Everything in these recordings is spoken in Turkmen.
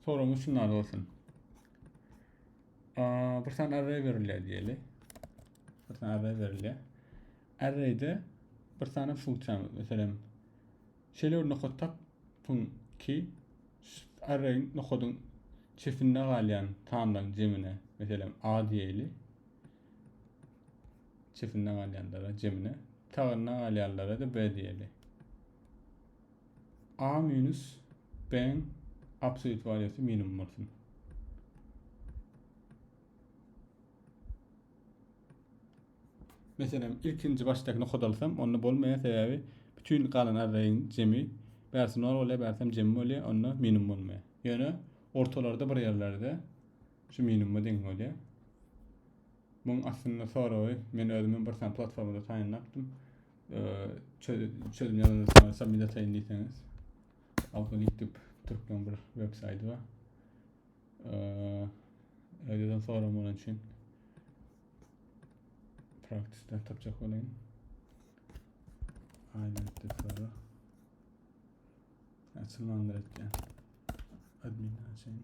Soruň üçin az olsun. Aa, bir saniye array verilýär diýeli. Bir saniye array verilýär. Arrayde bir saniye funksiýa, meselem, şeýle bir nokat tap ki, array nokadyň çetinde galýan sanlaryň jemine, meselem, a diýeli. Çetinde galýanlara jemine, sağynda galýanlara da b diýeli. A minus B-iň absolýut waliýasy minimum bolsun. Meselem, ilkinji başdakyny kodalsam, onda bolmaýar, sebäbi bütün galan arraýyň jemi bärsi 0 bolýar, bärsi hem jemi bolýar, onda minimum bolmaýar. Ýöne ortalarda bir ýerlerde şu minimuma deň bolýar. Muň aslynda soragy men özümi bir sany platformada taýynlapdym. Çözüm ýazandan soňra submit ataýyn diýseňiz. Algoritip türkmen bir web saýty bar. Öýden soram bolan üçin praktisde tapjak bolaýyn. Aynen sonra. Açılmandır etken. Admin açayım.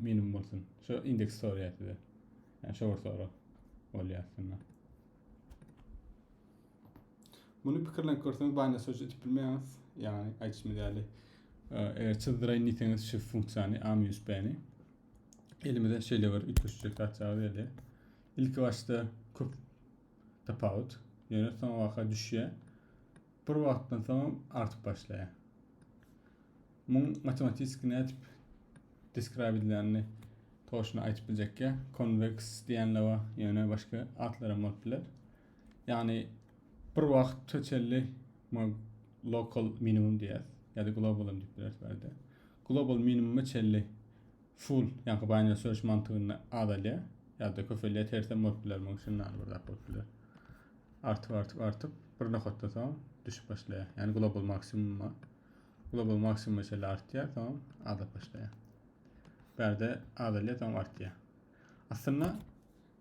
Minimum bolsun. Şu indeks sorýar size. Yani şu bir soru bolýar aslynda. Muny pikirlenip görseňiz Binance Search edip bilmeýäňiz. Yani aýtşymy ýaly. Eger çyzdyraýyn diýseňiz şu funksiýany AmUSB-ni elimize şeýle bir üýtgeşiklik tapýarys ýa-da ilki başda köp tapawut, ýöne soň waka düşýär. Bir wagtdan soň artyp başlaýar. Muň matematiski nädip describe edilýänini toşna aýtyp biljekge, convex diýenle bar, ýöne başga atlaram bolup biler. Ýagny bir wagt tötelli muň local minimum diýýäs, ýa-da global diýip bileris bärde. Global minimuma çelli full, ýaňky binary search mantygynda azalýar, ýa-da köpelýär, tersem bolup biler, muň üçin näme bir zat bolup biler. Artyp, artyp, artyp, bir nokatda soň düşüp başlaýar. Ýagny global maksimuma. Globa maksimum meselä artýar, soňam azlap başlaýar. Bärde azalýar, soňam artýar. Aslynda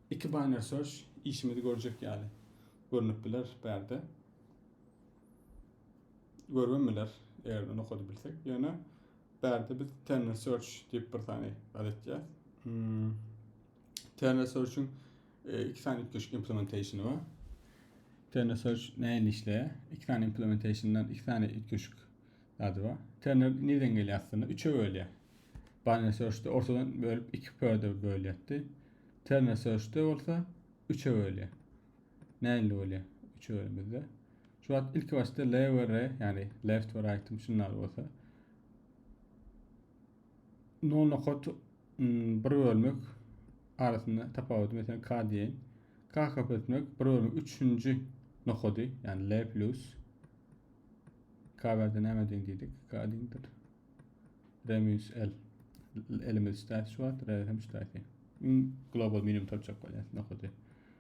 iki binary search işimizi görjek ýaly görnüp biler bärde. Görübem biler, eger nokady bilsek. Ýöne bärde biz terminal search diýip bir sany adatýar. Hmm. Terna Search-iň e, iki sany üýtgeşik implementationy bar. Terna Search näin işleýär? Iki sany implementationdan iki sany üýtgeşik zady bar. Terna nirden gelýär aslynda? Üçe bölýär. Binary Search-de ortadan bölüp iki pörde bölýärdi. Terna Search-de bolsa üçe bölýär. Näinli bolýar? Üçe bölümizde. Şu wagt ilki başda L we R, yani left we right-im şunlar bolsa. No nokat bir bölmek arasynda tapawudy mesela k diýen. K kap etmek bir bölmek üçünji nokady yani L plus K berde näme deň diýdik? K deňdir. R minus L. Elimiz ştaýt şu wagt, R hem ştaýt. Global minimum tapjak bolýar nokady.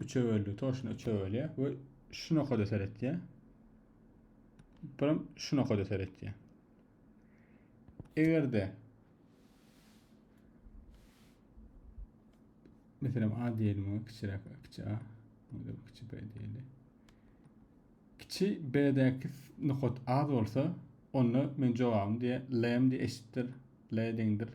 Üçe böldi. Toşuna üçe bölýär we şu nokada seretýär. Buram şu nokada seretýär. Egerde Meselem A diýelim oňa kiçiräk A, kiçi A. Onda kiçi B diýeli. Kiçi B-däki nokat az bolsa, onda men jogabymy diýe lm diýe eşitdir, l deňdir.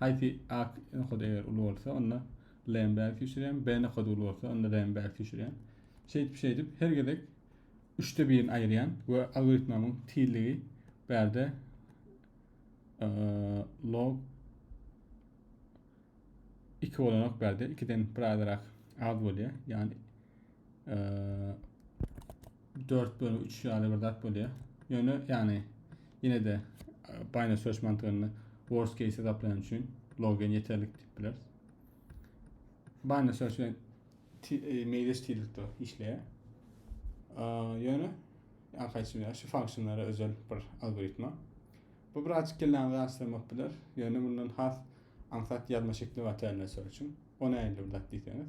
Haýsy A nokady eger uly bolsa, onda L-ni bärik süýşürýän, B nokady uly bolsa, onda R-ni bärik süýşürýän. Şeýdip, şeýdip her gezek üçde birini aýyrýan we algoritmamyň tizligi bärde log 2 bolanok bärde, 2-den bir azrak az bolýar. Ýagny 4 bölü 3 ýaly bir zat bolýar. Ýöne ýagny ýene de Binary Search mantygynda worst case hesaplaýan üçin logen ýeterlik diýip bileris. Binary Search bilen e, meýleş tizlikde işleýär. Ýöne arkaýçy şu funksionlara özel bir algoritma. Bu birazcık kellani rahatlamak bilir. Ýöne bundan has aňsat ýazma şekli bar terminal search üçin. O nähili bir zat diýseňiz.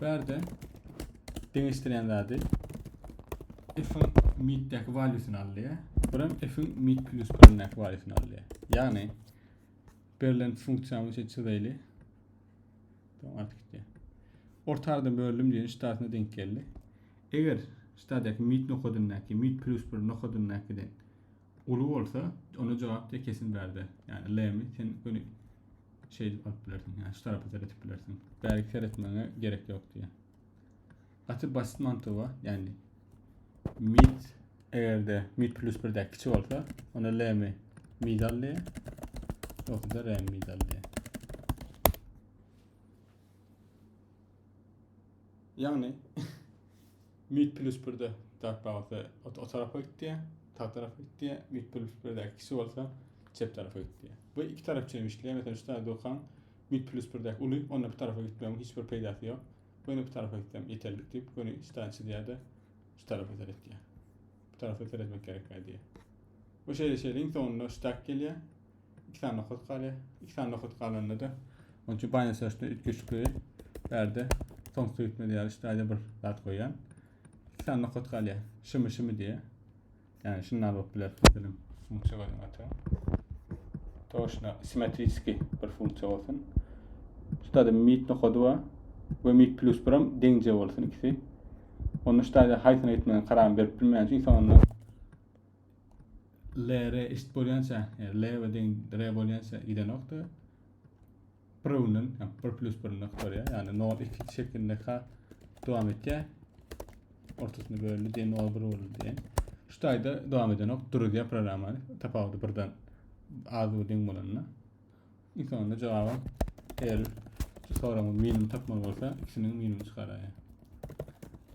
Bärde deňeşdirýän zady f-iň mitdäki valýusyny alýar. Bir hem f-iň mit plus birindäki valýusyny alýar. Ýagny berlen funksiýamyz üçin çyzaýly. Tamam artyk gitdi. Ortarda bölüm diýen ştatyna denk geldi. Eger ştatdaky mit nokadyndaky mit plus bir nokadyndakydan Uly bolsa, onda jogap diýe kesin bärde. Ýani Lemi sen göni şeý edip alyp bilersiň. Ýani şu tarapa seretip bilersiň. Bärki seretmäňe gerek ýok diýe. Gaty basit mantygy Ýani mid egerde mid plus 1 däki kiçi bolsa, onda Lemi mid al diýe. Ýoksa da Remi mid al diýe. Ýani Mit plus birde dark bagda o tarapa gitdi, sağ tarapa gitdi. Mit plus birde ikisi bolsa çep tarapa gitdi. Bu iki taraf üçin işleýär. Mesela şu tarafda okaň mit plus birde uly, onda bu tarafa gitmegiň hiç bir peýdasy ýok. Göni bu tarafa gitsem ýeterlik diýip, göni şu tarafa çizýär-de, şu tarafa seretýär. Bu tarafa seretmek gerek diýär. Bu şeýle şeýle iň soňunda şu tak gelýär. 2 sany nokat galýar. 2 sany nokat galanda da onun üçin Binance Search-de üýtgeşikli bärde Tom Swift diýýär, işte aýda bir zat goýýan. 2 sany nokat galýar. Şimi şimi diýýär. Yani şundan bolup biler. Bilim funksiýa goýan ata. Toşna simetriski bir funksiýa bolsun. Ştada mit nokady bar we mit plus bir hem deňje bolsun ikisi. Onu ştada haýsyna gitmegini karar berip bilmeýän üçin soňunda le re eşit bolýança leve deň re bolýança gidenokda prundan bir plus bir nokta ya yani nol iki şeklinde ka devam etýär ortasynda bölündi diye nol bir boldu diye şu tayda devam edenok duruzya programmany tapawudy birden az deň bolanda İlk onda cevabım eğer şu sorama minimum tapmaly bolsa ikisiniň minimum çıkaraýa.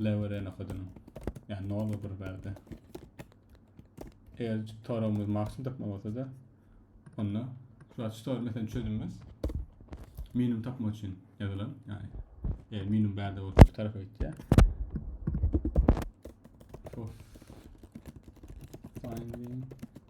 L ve R nokadynyň. Yani 0 ve 1 berde. Eğer soragymyz maksimum tapmaly bolsa da onda şu açı soru mesela çözülmez. Minimum tapmak için yazılan yani eğer minimum berde olsa şu tarafa gitýär. Of. Finding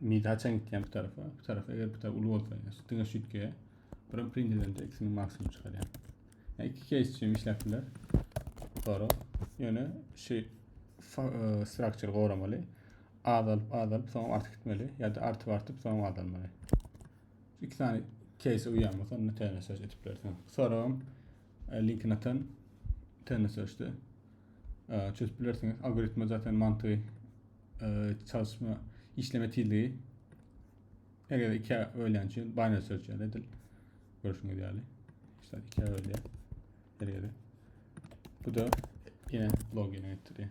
Midi haçan gitýän bu tarafa? Bu tarafa eger bu taraf uly bolsa, şu diňe şu ýitgä birim printerden eksini maksimum çykarýar. Yani iki case üçin işläp biler. Sonra ýöne şu e, structure goramaly. Azalyp azalyp soňra artyp gitmeli ýa-da artyp artyp soňra azalmaly. Şu iki tane case uýanmasa onda täze söz edip bilersiň. Soragym Linkini atan tennis öçdi. Çözüp bilersiňiz. Algoritma zaten mantygy çalışma işleme tizligi eger iki öýlän üçin binary search edil. Görüşüňiz ýaly. İşte iki öýlä. Dergede. Bu da yine login etdi.